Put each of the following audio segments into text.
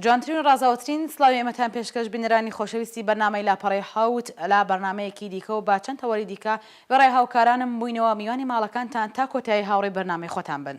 جوانترین و ڕازاوترین سلاوی ئەمەتان پێشکەش بینەرانی خۆشەویستی بەنامەی لاپەڕی حوت لا بەرنمەیەکی دیکە و با چەند تەوەری دیکە وێڕای هاوکارانم بووینەوە میوانی ماڵەکانتان تا کۆتایی هاوڕێ بەرنمەی خۆتان بن.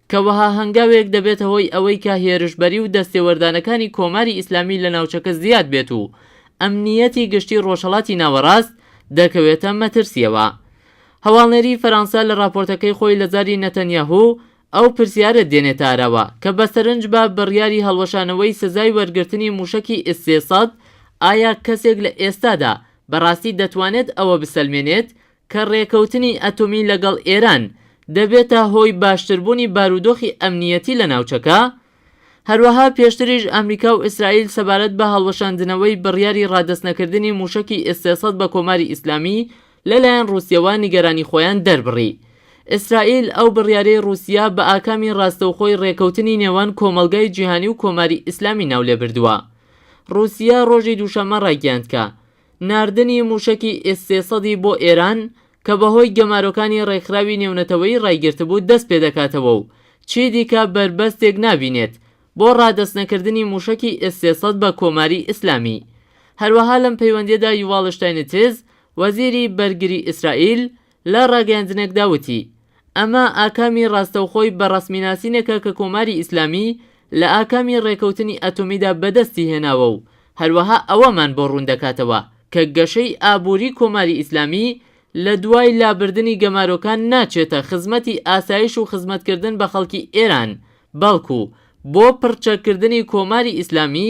کە وەها هەنگاوێک دەبێتە هۆی ئەوەی کە هێرشبەری و دەستێوەردانەکانی کۆماری ئیسلامی لە ناوچەکە زیاد بێت و ئەمنییەتی گشتی ڕۆژهەڵاتی ناوەڕاست دەکەوێتە مەترسییەوە. هەواڵنێری فەرانسە لە ڕاپۆرتەکەی خۆی لە زاری نەتەنیاهو ئەو پرسیارە دێنێتە ئاراوە کە بە سەرنج بە بڕیاری هەڵوەشانەوەی سزای وەرگرتنی مووشەکی ئیس سێ سەد ئایا کەسێک لە ئێستادا بەڕاستی دەتوانێت ئەوە بسەلمێنێت کە ڕێکەوتنی ئەتۆمی لەگەڵ ئێران دەبێتە هۆی باشتربوونی بارودۆخی ئەمنییەتی لە ناوچەکە، هەروەها پێشتریش ئەمریکا و ئیسرائیل سەبارەت بە هەڵوەشاندنەوەی بڕیاری ڕادەستنەکردنی مووشەکی ئێسێ سەد بە کۆماری ئیسلامی لەلایەن ڕووسیەوە نیگەرانی خۆیان دەربڕی. ئیسرائیل ئەو بڕیارەی ڕووسیە بە ئاکامی ڕاستەوخۆی ڕێکەوتنی نێوان کۆمەڵگای جیهانی و کۆماری ئیسلامی ناو لێ بردووە. ڕووسیە ڕۆژی دووشەممە ڕایگەیاند کە، ناردنی مووشەکی ئێس سێ سەد ی بۆ ئێران کە بەهۆی گەمارۆکانی ڕێکخراوی نێونەتەوەیی ڕایگرتبوو دەست پێدەکاتەوە و چیدیکە بەربەستێک نابینێت بۆ ڕادەستنەکردنی مووشەکی ئێس سێ سەد بە کۆماری ئیسلامی هەروەها لەم پەیوەندیەدا یوواڵ شتاینتز وەزیری بەرگری ئیسرائیل لە ڕاگەیاندنێکدا وتی، ئەمە ئاکامی ڕاستەوخۆی بە ڕەسمیناسینێکە کە کۆماری ئیسلامی لە ئاکامی ڕێکەوتنی ئەتۆمیدا بەدەستی هێناوە و هەروەها ئەوەمان بۆ ڕوون دەکاتەوە کە گەشەی ئابووری کۆماری ئیسلامی لە دوای لابردنی گەمارۆکان ناچێتە خزمەتی ئاسایش و خزمەتکردن بە خەڵکی ئێران بەڵکو بۆ پڕچەککردنی کۆماری ئیسلامی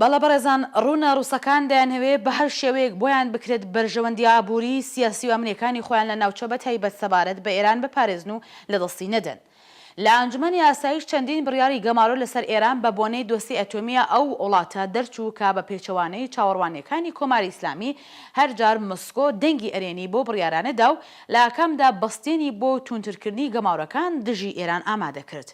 بەڵێ بەڕێزان، ڕوونە ڕووسەکان دەیانهەوێ بە هەر شێوەیەک بۆیان بکرێت بەرژەوەندییە ئابووری، سیاسی و ئەمنییەکانی خۆیان لە ناوچە بە تایبەت سەبارەت بە ئێران بپارێزن و لە دەستی نەدەن. لە ئەنجومەنی ئاسایش چەندین بڕیاری گەمارۆ لە سەر ئێران بە بۆنەی دۆسیەی ئەتۆمیی ئەو وڵاتە دەرچوو کە بە پێچەوانەی چاوەڕوانییەکانی کۆماری ئیسلامی هەر جار مۆسکۆ دەنگی ئەرێنی بەو بڕیارانە دا و لە ئاکامدا بەستێنی بۆ تووندترکردنی گەمارۆکان دژی ئێران ئامادە کرد.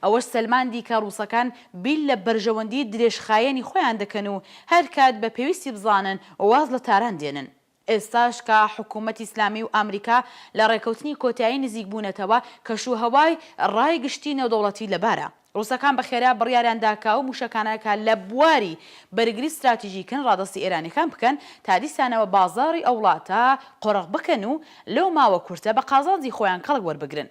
ئەوەش سەلماندی کە ڕووسەکان بیر لە بەرژەوەندیی درێژخایەنی خۆیان دەکەن و هەر کات بە پێویستی بزانن واز لە تاران دێنن. ئێستاش کە حکوومەتی ئیسلامی و ئامریکا لە ڕێککەوتنی کۆتایی نزیک بوونەتەوە، کەشوهەوای ڕای گشتی نێودەوڵەتی لەبارە. ڕووسەکان بە خێرا بڕیاریان دا کە ئەو مووشەکانە کە لە بواری بەرگری ستراتیژیکن ڕادەستی ئێرانییەکان بکەن تا دیسانەوە بازاڕی ئەو وڵاتە قۆرغ بکەن و لەو ماوە کورتە بە قازانجی خۆیان کەڵک وەربگرن.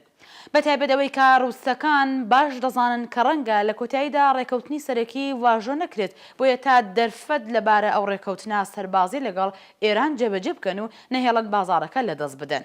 بە تایبەت ئەوەی کە رووسەکان باش دەزانن کە رەنگە لە کۆتاییدا رێکەوتنی سەرەکی واژۆ نەکرێت، بۆیە تا دەرفەت لە بارە ئەو رێکەوتنە سەربازی لەگەڵ ئێران جێبەجێ بکەن و نەهێڵن بازاڕەکە لە دەست بدەن.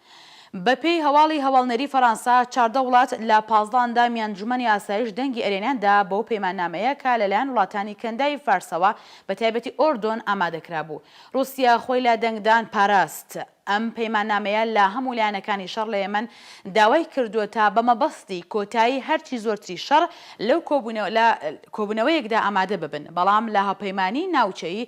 بەپێی هەواڵی هەواڵنێری فەرانسە، چاردە وڵات لە پازدە ئەندامی ئەنجومەنی ئاسایش دەنگی ئەرێنیان دا بەو پەیماننامەیە کە لەلایەن وڵاتانی کەنداوی فارسەوە بە تایبەتی ئۆردۆن ئامادە کرابوو. روسیا خۆی لە دەنگدان پاراست. ئەم پەیماننامەیە لە هەموو لایەنەکانی شەڕ لە یەمەن داوای کردووە تا بە مەبەستی کۆتایی هەرچی زۆرتری شەڕ لەو کۆبوونەوە لە کۆبوونەوەیەکدا ئامادە ببن بەڵام لە هاوپەیمانیی ناوچەیی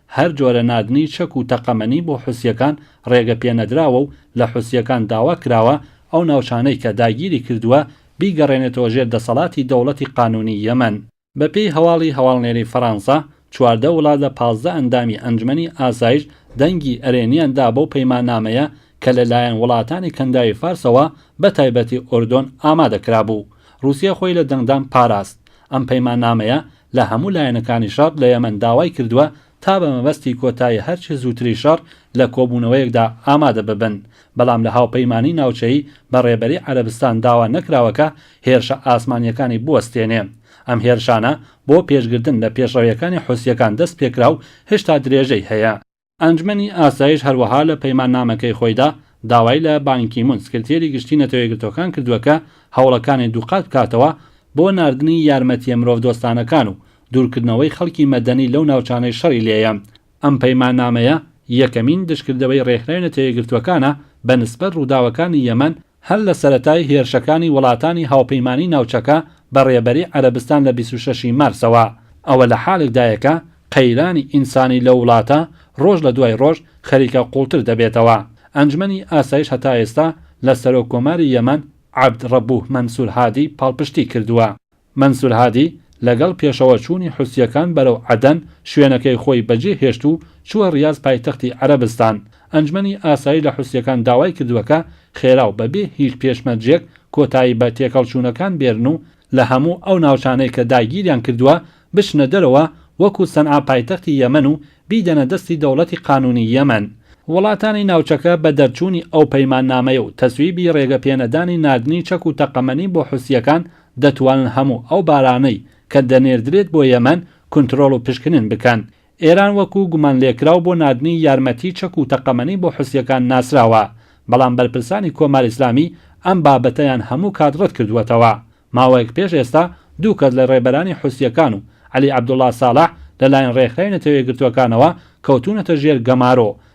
هەر جۆرە ناردنی چەک و تەقەمەنی بۆ حوسییەکان ڕێگە پێ نەدراوە و لە حوسییەکان داوا کراوە ئەو ناوچانەی کە داگیری کردووە بیگەڕێنێتەوە ژێر دەسەڵاتی دەوڵەتی قانوونی یەمەن. بە پێی هەواڵی هەواڵنێری فەرانسە، چواردە وڵات لە پازدە ئەندامی ئەنجومەنی ئاسایش دەنگی ئەرێنییان دا بەو پەیماننامەیە کە لە لایەن وڵاتانی کەنداوی فارسەوە بە تایبەتی ئوردون ئامادە کرابوو. ڕووسیە خۆی لە دەنگدان پاراست. ئەم پەیماننامەیە لە هەموو لایەنەکانی شەڕ لە یەمەن داوای کردووە تا بە مەبەستی کۆتایی هەر چ زووتری شەڕ لە کۆبوونەوەیەکدا ئامادە ببن، بەڵام لە هاوپەیمانیی ناوچەیی بە ڕێبەری عەرەبستان داوا نەکراوە کە هێرشە ئاسمانییەکانی بوەستێنێ. ئەم هێرشانە بۆ پێشگرتن لە پێشڕەوییەکانی حوسییەکان دەست پێکرا و هشتا درێژەی هەیە. ئەنجومەنی ئاسایش هەروەها لە پەیماننامەکەی خۆیدا داوای لە بان کی مون سکرتێری گشتی نەتەوەیەکگرتووەکان کردووە کە هەوڵەکانی دووقات بکاتەوە بۆ ناردنی یارمەتییە مرۆڤدۆستانەکان و دوورکردنەوەی خەڵکی مەدەنی لەو ناوچانەی شەڕی لێیە. ئەم پەیماننامەیە یەکەمین دژکردەوەی ڕێکخراوی نەتەوەیەکگرتووەکانە بە نسبەت ڕووداوەکانی یەمەن هەر لە سەرەتای هێرشەکانی وڵاتانی هاوپەیمانی ناوچەکە بە ڕێبەری عەرەبستان لە بیست و شەش ی مارسەوە، ئەوە لە حالێکدایە کە قەیرانی ئینسانی لەو وڵاتە ڕۆژ لە دوای ڕۆژ خەریکە قوڵتر دەبێتەوە. ئەنجومەنی ئاسایش هەتا ئێستا لە سەرۆک کۆماری یەمەن عەبد ڕەبوه مەنسور هادی پاڵپشتی کردووە. مەنسور هادی لەگەڵ پێشەوە چوونی حوسییەکان بەرەو عەدەن شوێنەکەی خۆی بەجێ هێشت و چووە ڕیاز پایتەختی عەرەبستان. ئەنجمەنی ئاسایش لە حوسییەکان داوای کردووە کە خێرا و بەبێ هیچ پێشمەرجێک کۆتایی بە تێکەڵچوونەکان بێرن و لە هەموو ئەو ناوچانەی کە داگیریان کردووە بچنە دەرەوە وەکو سەنعا پایتەختی یەمەن و بیدەنە دەستی دەوڵەتی قانوونی یەمەن. وڵاتانی ناوچەکە بە دەرچوونی ئەو پەیماننامەیە و تەسویبی ڕێگەپێنەدانی ناردنی چەک و تەقەمەنی بۆ حوسییەکان دەتوانن هەموو ئەو بارانەی کە دەنێردرێت بۆ یەمەن کونترۆڵ و پشکنن بکەن. ئێران وەکو گومانلێکراو بۆ ناردنی یارمەتی چەک و تەقەمەنی بۆ حوسییەکان ناسراوە، بەڵام بەرپرسانی کۆماری ئیسلامی ئەم بابەتەیان هەموو کات ڕەت کردووەتەوە. ماوەیەک پێش ئێستا دوو کەس لە ڕێبەرانی حوسییەکان و عەلی عەبدوڵا ساڵح لەلایەن ڕێکخراوی نەتەوەیەکگرتووەکانەوە کەوتوونەتە ژێر گەمارۆ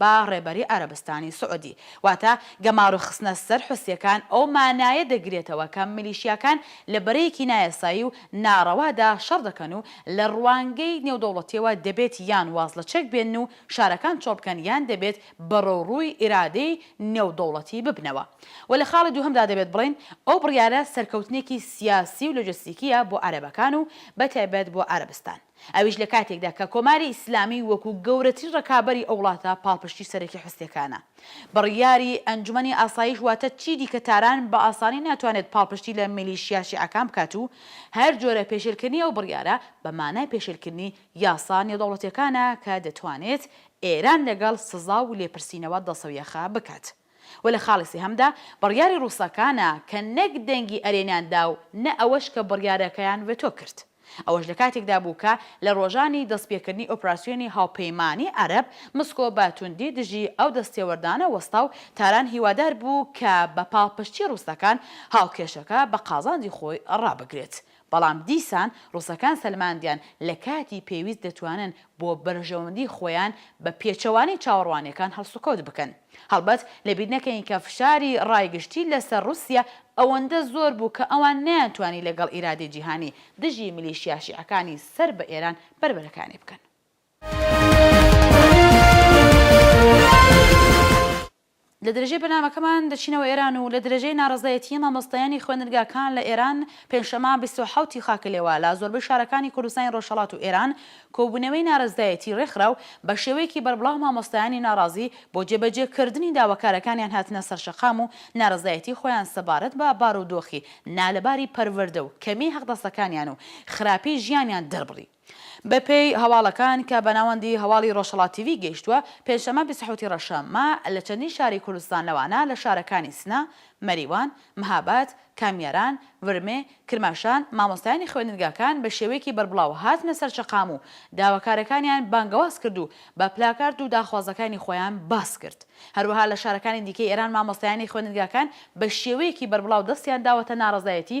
با ڕێبەری عەرەبستانی سعودی، واتە گەمارۆ خستنە سەر حوسییەکان ئەو مانایە دەگرێتەوە کە میلیشیاکان لە بەرەیەکی نایاسایی و ناڕەوادا شەڕ دەکەن و لە ڕوانگەی نێودەوڵەتییەوە دەبێت یان واز لە چەک بێنن و شارەکان چۆڵ بکەن یان دەبێت بەرەوڕووی ئیرادەی نێودەوڵەتی ببنەوە و لە خاڵی دووهەمدا دەبێت بڵێین ئەو بڕیارە سەرکەوتنێکی سیاسی و لۆجستیکییە بۆ عەرەبەکان و بەتایبەت بۆ عەرەبستان. ئەویش لە کاتێکدا کە کۆماری ئیسلامی وەکو گەورەترین ڕکابەری ئەو وڵاتە پاڵپشتی سەرەکی حوسیەکانە. بڕیاری ئەنجومەنی ئاسایش واتە چی دیکە تاران بە ئاسانی ناتوانێت پاڵپشتی لە میلیشیا شیعەکان بکات و هەر جۆرە پێشێلکردنی ئەو بڕیارە بە مانای پێشێلکردنی یاسا نێودەوڵەتیەکانە کە دەتوانێت ئێران لەگەڵ سزا و لێپرسینەوە دڵسەویاخ بکات. و لە خاڵی سێهەمدا بڕیاری ڕووسەکانە کە نەک دەنگی ئەرێنیان دا و نە ئەوەش کە بڕیارەکەیان ڤێتۆ کرد. ئەوەش لە کاتێکدا بوو کە لە ڕۆژانی دەستپێکردنی ئۆپراسیۆنی هاوپەیمانیی عەرەب، مسکۆ بە توندی دژی ئەو دەستێوەردانە وەستا و تاران هیوادار بوو کە بە پاڵپشتی ڕووسەکان هاوکێشەکە بە قازانجی خۆی ڕابگرێت بەڵام دیسان ڕووسەکان سەلماندیان لە کاتی پێویست دەتوانن بۆ بەرژەوەندی خۆیان بە پێچەوانەی چاوەڕوانیەکان هەڵسوکەوت بکەن. هەڵبەت لەبیر نەکەین کە فشاری ڕای گشتی لەسەر ڕووسیە ئەوەندە زۆر بوو کە ئەوان نەیانتوانی لەگەڵ ئیرادەی جیهانی دژی میلیشیا شیعەکانی سەر بە ئێران بەربەرەکانی بکەن. لە درێژەی بەرنامەکەمان دەچینەوە ئێران و لە درێژەی ناڕەزایەتیی مامۆستایانی خوێندنگاکان لە ئێران، پێنجشەممە بیست و حەوت ی خاک لێوە لە زۆربەی شارەکانی کوردستانی ڕۆژهەڵات و ئێران کۆبوونەوەی نارەزایەتی ڕێکخرا و بە شێوەیەکی بەربڵاو مامۆستایانی ناڕازی بۆ جێبەجێ کردنی داواکارەکانیان هاتنە سەرشەقام و نارەزایەتی خۆیان سەبارەت بە بارودۆخی نالەباری پەروەردە و کەمیی حەقدەستەکانیان و خراپیی ژیانیان دەربڕی. بەپێی هەواڵەکان کە بە ناوەندی هەواڵی ڕۆژهەڵات تیڤی گەیشتووە، پێنجشەممە بیست و حەوتی ڕەشە مە لە چەندین شاری کوردستان لەوانە لە شارەکانی سنە، مەریوان، مهاباد، کامیاران، ورمێ، کرماشان مامۆستایانی خوێندنگاکان بە شێوەیەکی بەربڵاو هاتنە سەر شەقام و داواکارەکانیان بانگەواز کرد و بە پلاکارد و داخوازەکانی خۆیان باس کرد. هەروەها لە شارەکانی دیکەی ئێران مامۆستایانی خوێندنگاکان بە شێوەیەکی بەربڵاو دەستیان داوەتە ناڕەزایەتی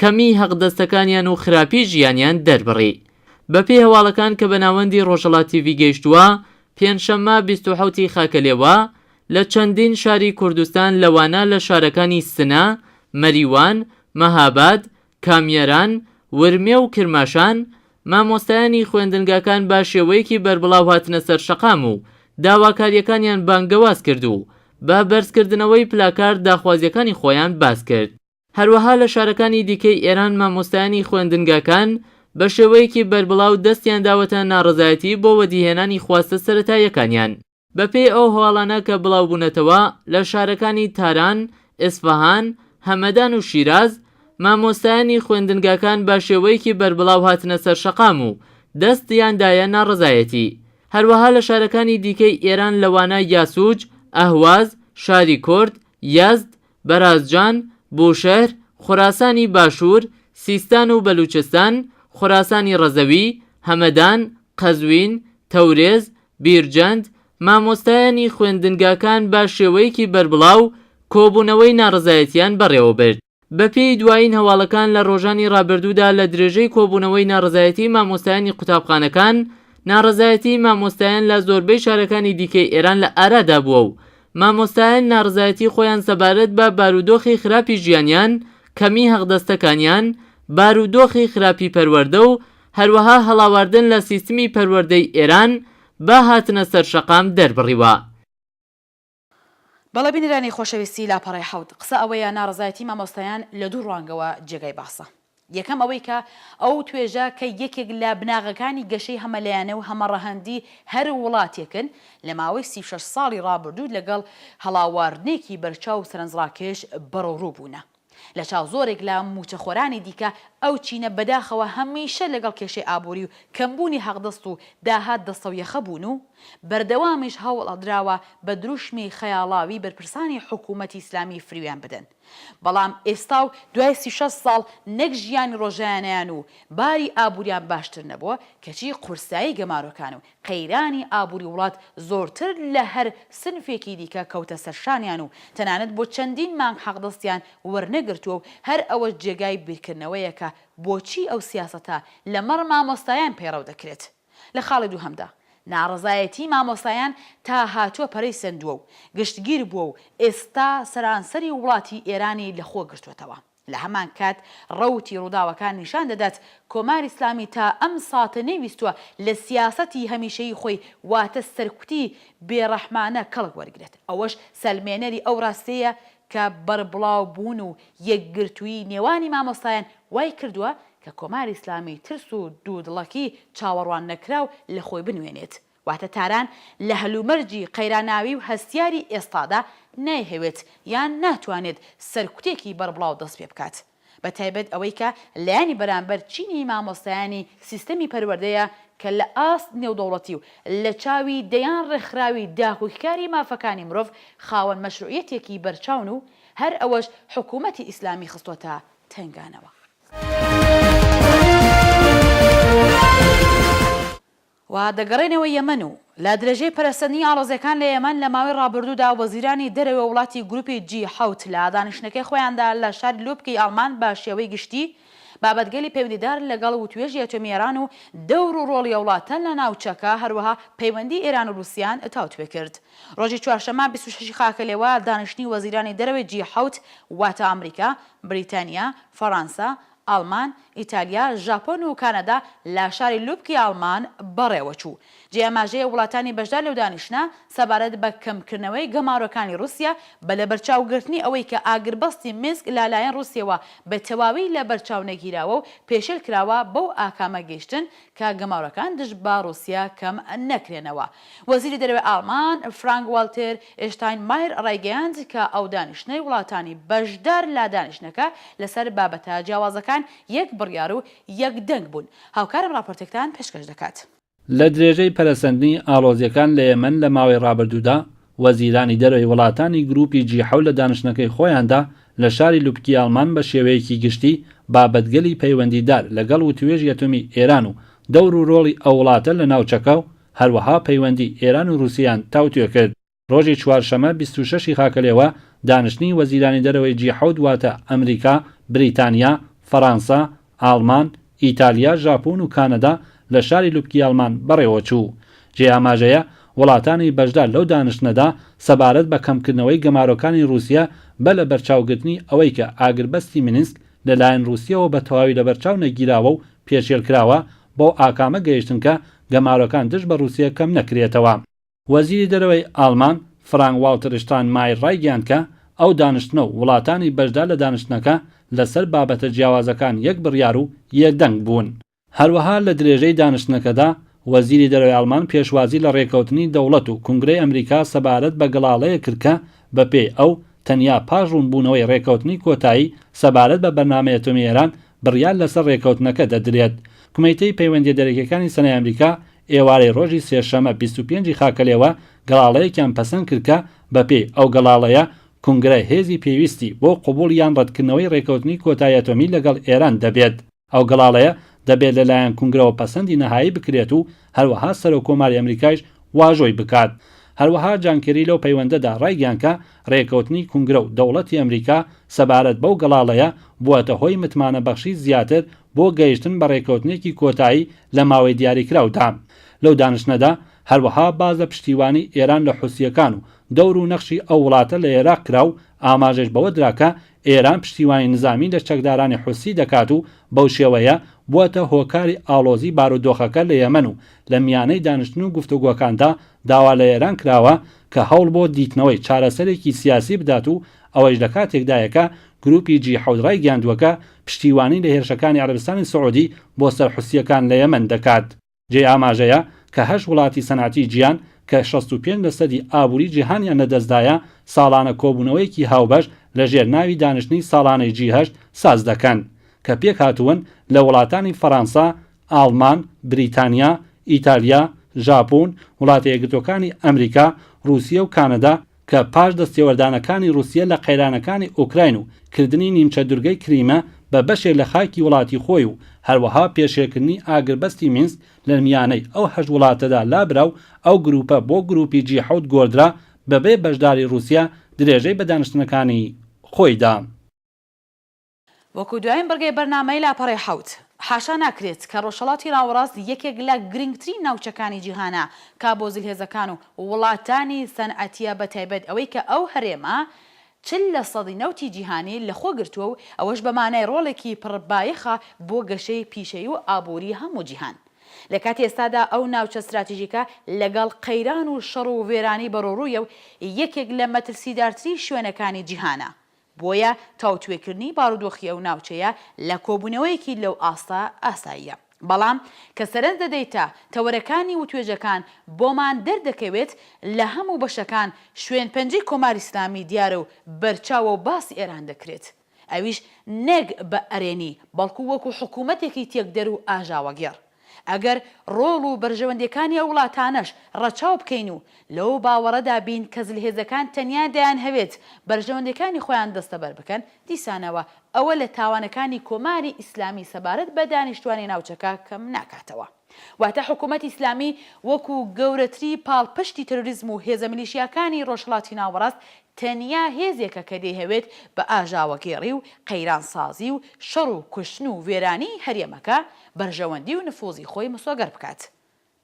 کەمیی هەقدەستەکانیان و خراپیی ژیانیان دەربڕی. بەپێی هەواڵەکان کە بە ناوەندی ڕۆژهەڵات تیڤی گەیشتووە، پێنجشەممە بیست و حەوت ی خاکەلێوە، لە چەندین شاری کوردستان لەوانە لە شارەکانی سنە، مەریوان، مەهاباد، کامیاران، ورمێ و کرماشان، مامۆستایانی خوێندنگاکان بە شێوەیەکی بەربڵاو هاتنە سەر شەقام و داواکارییەکانیان بانگەواز کرد و بە بەرزکردنەوەی پلاکارد داخوازییەکانی خۆیان باس کرد. هەروەها لە شارەکانی دیکەی ئێران مامۆستایانی خوێندنگاکان بە شێوەیەکی بەربڵاو دەستیان داوەتە ناڕەزایەتی بۆ وەدیهێنانی خواستە سەرەتاییەکانیان. بە پێی ئەو هەواڵانە کە بڵاوبوونەتەوە، لە شارەکانی تاران، ئێسفەهان، هەمەدان و شیراز، مامۆستایانی خوێندنگاکان بە شێوەیەکی بەربڵاو هاتنە سەر شەقام و دەستیان دایە ناڕەزایەتی. هەروەها لە شارەکانی دیکەی ئێران لەوانە یاسوج، ئەهواز، شاری کورد، یەزد، بەرازجان، بوشەهر، خوراسانی باشوور، سیستان و بەلووچستان، خوراسانی ڕەزەوی، هەمەدان، قەزوین، تەورێز، بیرجەند، مامۆستایانی خوێندنگاکان بە شێوەیەکی بەربڵاو کۆبوونەوەی ناڕەزایەتییان بەڕێوەبرد. بەپێی دوایین هەواڵەکان لە ڕۆژانی ڕابردوودا لە درێژەی کۆبوونەوەی ناڕەزایەتیی مامۆستایانی قوتابخانەکان، ناڕەزایەتیی مامۆستایان لە زۆربەی شارەکانی دیکەی ئێران لە ئارادا بووە و مامۆستایان ناڕزایەتی خۆیان سەبارەت بە بارودۆخی خراپی ژیانیان، کەمی هەقدەستەکانیان، بارودۆخی خراپی پەروەردە و هەروەها هەڵاواردن لە سیستمی پەروەردەی ئێران بە هاتنە سەر شەقام دەربڕیوە. بەڵێ بینەرانی خۆشەویستی لاپەڕەی حەوت، قسە ئەوەیە ناڕەزایەتی مامۆستایان لە دوو ڕوانگەوە جێگای باسە. یەکەم ئەوەی کە ئەو توێژە کە یەکێک لە بناغەکانی گەشەی هەمەلایەنە و هەمەڕەهەندی هەر وڵاتێکن، لە ماوەی سی و شەش ساڵی ڕابردوو لەگەڵ هەڵاواردنێکی بەرچاو و سەرەنجڕاکێش بەڕوڕوو بوونە. لە چاو زۆرێک لە مووچەخۆرانی دیکە ئەو چینە بەداخەوە هەمیشە لەگەڵ کێشەی ئابووری و کەمبوونی حەقدەست و داهات دەستەویەخە بوون و بەردەوامیش هەوڵ دراوە بە دروشمی خەیاڵاوی بەرپرسانی حکوومەتی ئیسلامی فریویان بدەن بەڵام ئێستا و دوای سی شەست ساڵ نەک ژیانی ڕۆژایانەیان و باری ئابووریان باشتر نەبووە، کەچی قورسایی گەمارۆکان و قەیرانی ئابووری وڵات زۆرتر لە هەر سنفێکی دیکە کەوتە سەر شانیان و تەنانەت بۆ چەندین مانگ حەقدەستیان وەرنەگرتووە و هەر ئەوەش جێگای بیرکردنەوەیە کە بۆچی ئەو سیاسەتە لەمەڕ مامۆستایان پەیڕەو دەکرێت. لە خاڵی دووهەمدا، ناڕەزایەتیی مامۆستایان تا هاتووە پەرەی سەندووە و گشتگیر بووە و ئێستا سەرانسەری وڵاتی ئێرانی لە خۆ گرتووەتەوە. لە هەمان کات ڕەوتی ڕووداوەکان نیشان دەدات کۆماری ئیسلامی تا ئەم ساتە نەیویستووە لە سیاسەتی هەمیشەیی خۆی واتە سەرکوتی بێڕەحمانە کەڵک وەرگرێت. ئەوەش سەلمێنەری ئەو ڕاستییەیە کە بەربڵاوبوون و یەکگرتوویی نێوانی مامۆستایان وای کردووە کە کۆماری ئیسلامی ترس و دوودڵەکی چاوەڕوان نەکراو لە خۆی بنوێنێت، واتە تاران لە هەلومەرجی قەیراناوی و هەستیاری ئێستادا نایهەوێت یان ناتوانێت سەرکوتێکی بەربڵاو دەست پێ بکات، بە تایبەت ئەوەی کە لایەنی بەرامبەر چینی مامۆستایانی سیستەمی پەروەردەیە کە لە ئاست نێودەوڵەتی و لە چاوی دەیان ڕێکخراوی داکۆکیکاری مافەکانی مرۆڤ خاوەن مەشروعیەتێکی بەرچاون و هەر ئەوەش حکوومەتی ئیسلامی خستۆتە تەنگانەوە. و دەگەڕێنەوە یەمەن و لە درێژەی پەرەسەندنی ئاڵۆزیەکان لە یەمەن لە ماوەی ڕابردوودا وەزیرانی دەرەوەی وڵاتی گروپی جی حەوت لە دانیشتنەکەی خۆیاندا لە شاری لۆبکەی ئاڵمان بە شێوەی گشتی بابەتگەلی پەیوەندیدار لەگەڵ وتوێژی ئەتۆمی ئێران و دەور و ڕۆڵی ئەو وڵاتە لە ناوچەکە هەروەها پەیوەندی ئێران و ڕوسیان تاوتوێ کرد. ڕۆژی چوارشەممە بیست و شەش ی خاکەلێوە دانیشتنی وەزیرانی دەرەوەی جی حەوت واتە ئامریکا، بریتانیا، فەڕانسە، ئاڵمان، ئیتالیا، ژاپۆن و کانادا لە شاری لوبکی ئاڵمان بەڕێوە چوو. جێی ئاماژەیە وڵاتانی بەشدار لەو دانیشتنە سەبارەت بە کەمکردنەوەی گەمارۆکانی ڕوسیە بە لەبەرچاوگرتنی ئەوەی کە ئاگربەستی مینسک لا لایەن ڕوسیەوە بە تەواوی لە بەرچاو نەگیراوە و پێشێل کراوە بەو ئاکامە گەیشتن کە گەمارۆکان دژ بە ڕووسیا کەم نەکرێنەوە. وەزیری دەرەوەی ئاڵمان، فرانک واڵتێر ئێشتاینمایەر ڕایگەیاند کە ئەو دانیشتنەی وڵاتانی بەشدار لە دانیشتنەکە لەسەر بابەتە جیاوازەکان یەک بڕیار و یەک دەنگ بوون. هاوکارم ڕاپۆرتێکتان پێشکەش دەکات. لە درێژەی پەرەسەندنی ئاڵۆزییەکان لە یەمەن لە ماوەی ڕابردوودا، وەزیرانی دەرەوەی وڵاتانی گرووپی جی حەوت لە دانیشتنەکەی خۆیاندا لە شاری لوبکی ئاڵمان بە شێوەیەکی گشتی بابەتگەلی پەیوەندیدار لەگەڵ وتووێژی ئەتۆمی ئێران و دەور و رۆڵی ئەو وڵاتە لە ناوچەکە و هەروەها پەیوەندی ئێران و رووسیەیان تاوتوێ کرد. رۆژی چوارشەممە بیست و شەش ی خاکەلێوە دانیشتنی وەزیرانی دەرەوەی جی حەوت واتە ئەمریکا، بریتانیا، فەرانسە، ئاڵمان، ئیتالیا، ژاپۆن و کانەدا لە شاری لوبکیالمان بەڕێوەچوو. جێی ئاماژەیە، وڵاتانی بەشدار لەو دانیشتنەدا سەبارەت بە کەمکردنەوەی گەمارۆکانی رووسیە بە لەبەرچاوگرتنی ئەوەی کە ئاگربەستی مینسک لەلایەن رووسیەوە بە تەواوی لەبەرچاو نەگیراوە و پێشێلکراوە، بەو ئاکامە گەیشتن کە گەمارۆکان دژ بە رووسیە کەم نەکرێتەوە. وەزیری دەرەوەی ئاڵمان فرانک واڵتر شتاینمایەر ڕایگەیاند کە ئەو دانیشتنە و وڵاتانی بەشدار لە دانیشتنەکە لەسەر بابەتە جیاوازەکان یەک بڕیار و یەک دەنگ بوون. هەروەها لە درێژەی دانیشتنەکەدا وەزیری دەرەوەی ئاڵمان پێشوازی لە ڕێککەوتنی دەوڵەت و کونگرەی ئەمریکا سەبارەت بە گەڵاڵەیەک کرد کە بەپێی ئەو تەنیا پاش ڕوونبوونەوەی ڕێککەوتنی کۆتایی سەبارەت بە بەرنامەی ئەتۆمی ئێران بڕیار لەسەر ڕێککەوتنەکە دەدرێت. کومیتەی پەیوەندیە دەرەکیەکانی سنای ئەمریکا ئێوارەی ڕۆژی سێشەمە بیست و پێنج ی خاکەلێوە گەڵاڵەیەکیان پەسەند کرد کە بە پێی ئەو گەڵاڵەیە کونگرە هێزی پێویستی بۆ قبوڵ یان ڕەتکردنەوەی ڕێکەوتنی کۆتای ئەتۆمی لەگەڵ ئێران دەبێت. ئەو گەڵاڵەیە دەبێت لە لایەن کونگرەوە پەسەندی نەهایی بکرێت و هەروەها سەرۆک کۆماری ئەمریکایش واژۆی بکات. هەروەها جان کێری لەو پەیوەندەدا ڕایگەیاند کە ڕێکەوتنی کونگرە و دەوڵەتی ئەمریکا سەبارەت بەو گەڵاڵەیە بووەتە هۆی متمانە بەخشی زیاتر بۆ گەیشتن بە رێککەوتنێکی کۆتایی لە ماوەی دیاریکراودا. لەو دانیشتنەدا هەروەها باس لە پشتیوانی ئێران لە حوسییەکان و دەور و نەخشی ئەو وڵاتە لە ئێراق کرا و ئاماژەش بەوە درا کە ئێران پشتیوانی نزامی لە چەکدارانی حوسی دەکات و بەو شێوەیە بووەتە هۆکاری ئاڵۆزی بارودۆخەکە لە یەمەن و لە میانەی دانیشتن و گفتوگۆکاندا داوا لە ئێران کراوە کە هەوڵ بۆ دیتنەوەی چارەسەرێکی سیاسی بدات و ئەوەیش لە کاتێکدایە کە گرووپی جی حەوت ڕایگەیاندووە کە پشتیوانی لە هێرشەکانی عەرەبستانی سعوودی بۆ سەر حوسییەکان لە یەمەن دەکات. جێی ئاماژەیە کە هەشت وڵاتی سەنعەتی جیهان کە شەست و پێنج لە سەدی ئابووری جیهانیان لە دەست دایە، ساڵانە کۆبوونەوەیەکی هاوبەش لە ژێر ناوی دانیشتنی ساڵانەی جی هەشت ساز دەکەن، کە پێک هاتوون لە وڵاتانی فەڕانسە، ئاڵمان، بریتانیا، ئیتالیا، ژاپۆن، وڵاتە یەکگرتووەکانی ئەمریکا، ڕووسیە و کانەدا، کە پاش دەستێوەردانەکانی ڕووسیە لە قەیرانەکانی ئۆکراین و کردنی نیمچە دورگەی کریمە بە بەشێک لە خاکی وڵاتی خۆی و هەروەها پێشێلکردنی ئاگربەستی مینسک لە میانەی ئەو هەشت وڵاتەدا لابرا و ئەو گرووپە بۆ گرووپی جی حەوت گۆڕدرا بەبێ بەشداری ڕووسیە درێژەی بە دانیشتنەکانی خۆی دا. وەکو دوایین بڕگەی بەرنامەی لاپەڕەی حەوت. حاشا ناکرێت کە ڕۆژهەڵاتی ناوەڕاست یەکێک لە گرنگترین ناوچەکانی جیهانە کە بۆ زلهێزەکان و وڵاتانی سەنعەتیە بە تایبەت ئەوەی کە ئەو هەرێمە چل لە سەدی نەوتی جیهانی لە خۆ گرتووە و ئەوەش بە مانای ڕۆڵێکی پڕ بایەخە بۆ گەشەی پیشەیی و ئابووری هەموو جیهان. لە کاتی ئێستادا ئەو ناوچە ستراتیژیکە لەگەڵ قەیران و شەڕ و وێرانی بەڕوڕوویە و یەکێک لە مەترسیدارترین شوێنەکانی جیهانە بۆیە تاوتوێکردنی بارودۆخی ئەو ناوچەیە لە کۆبوونەوەیەکی لەو ئاستە ئاساییە. بەڵام کە سەرنج دەدەیتە تەوەرەکانی وتوێژەکان بۆمان دەردەکەوێت لە هەموو بەشەکان شوێن پەنجەی کۆماری ئیسلامی دیارە و بەرچاوە و باسی ئێران دەکرێت ئەویش نەک بە ئەرێنی بەڵکو وەکو حکوومەتێکی تێکدەر و ئاژاوەگێڕ. ئەگەر ڕۆڵ و بەرژەوەندیەکانی ئەو وڵاتانەش ڕەچاو بکەین و لەو باوەڕەدا بین کە زلهێزەکان تەنیا دەیانهەوێت بەرژەوەندیەکانی خۆیان دەستەبەر بکەن، دیسانەوە ئەوە لە تاوانەکانی کۆماری ئیسلامی سەبارەت بە دانیشتوانی ناوچەکە کەم ناکاتەوە. واتە حکوومەتی ئیسلامی وەکو گەورەتری پاڵپشتی تێرۆریزم و هێزە میلیشیاکانی ڕۆژهەڵاتی ناوەڕاست تەنیا هێزێکە کە دەیهەوێت بە ئاژاوەگێڕی و قەیرانسازی و شەڕ و کوشتن و وێرانیی هەرێمەکە بەرژەوەندی و نفوزی خۆی مسۆگەر بکات.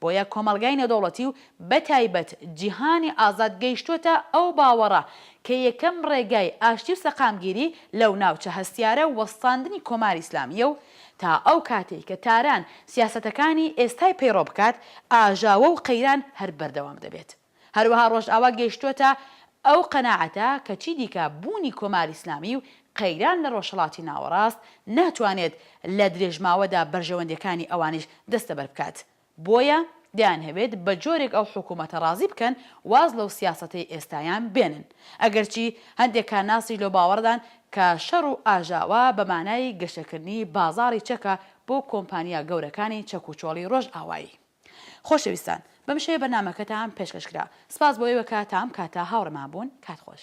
بۆیە کۆمەڵگای نێودەوڵەتی و بە تایبەت جیهانی ئازاد گەیشتووەتە ئەو باوەڕە کە یەکەم ڕێگای ئاشتی و سەقامگیری لەو ناوچە هەستیارە وەستاندنی کۆماری ئیسلامییە و تا ئەو کاتەی کە تاران سیاسەتەکانی ئێستای پەیڕەو بکات ئاژاوە و قەیران هەر بەردەوام دەبێت. هەروەها ڕۆژئاوا گەیشتووەتە ئەو قەناعەتە کە چیدیکە بوونی کۆماری ئیسلامی و قەیران لە ڕۆژهەڵاتی ناوەڕاست ناتوانێت لە درێژماوەدا بەرژەوەندییەکانی ئەوانیش دەستەبەر بکات بۆیە دەیانهەوێت بە جۆرێک ئەو حکوومەتە ڕازی بکەن واز لەو سیاسەتەی ئێستایان بێنن ئەگەرچی هەندێک کارناسیش لەو باوەڕەدان کە شەڕ و ئاژاوە بە مانای گەشەکردنی بازاڕی چەکە بۆ کۆمپانیا گەورەکانی چەکوچۆڵی ڕۆژئاوایی. خۆشەویستان بەم شێوەیە بەرنامەکەتان پێشکەش کرا سپاس بۆ ئێوە کە تام کاتە هاوڕێمان بوون کات خۆش.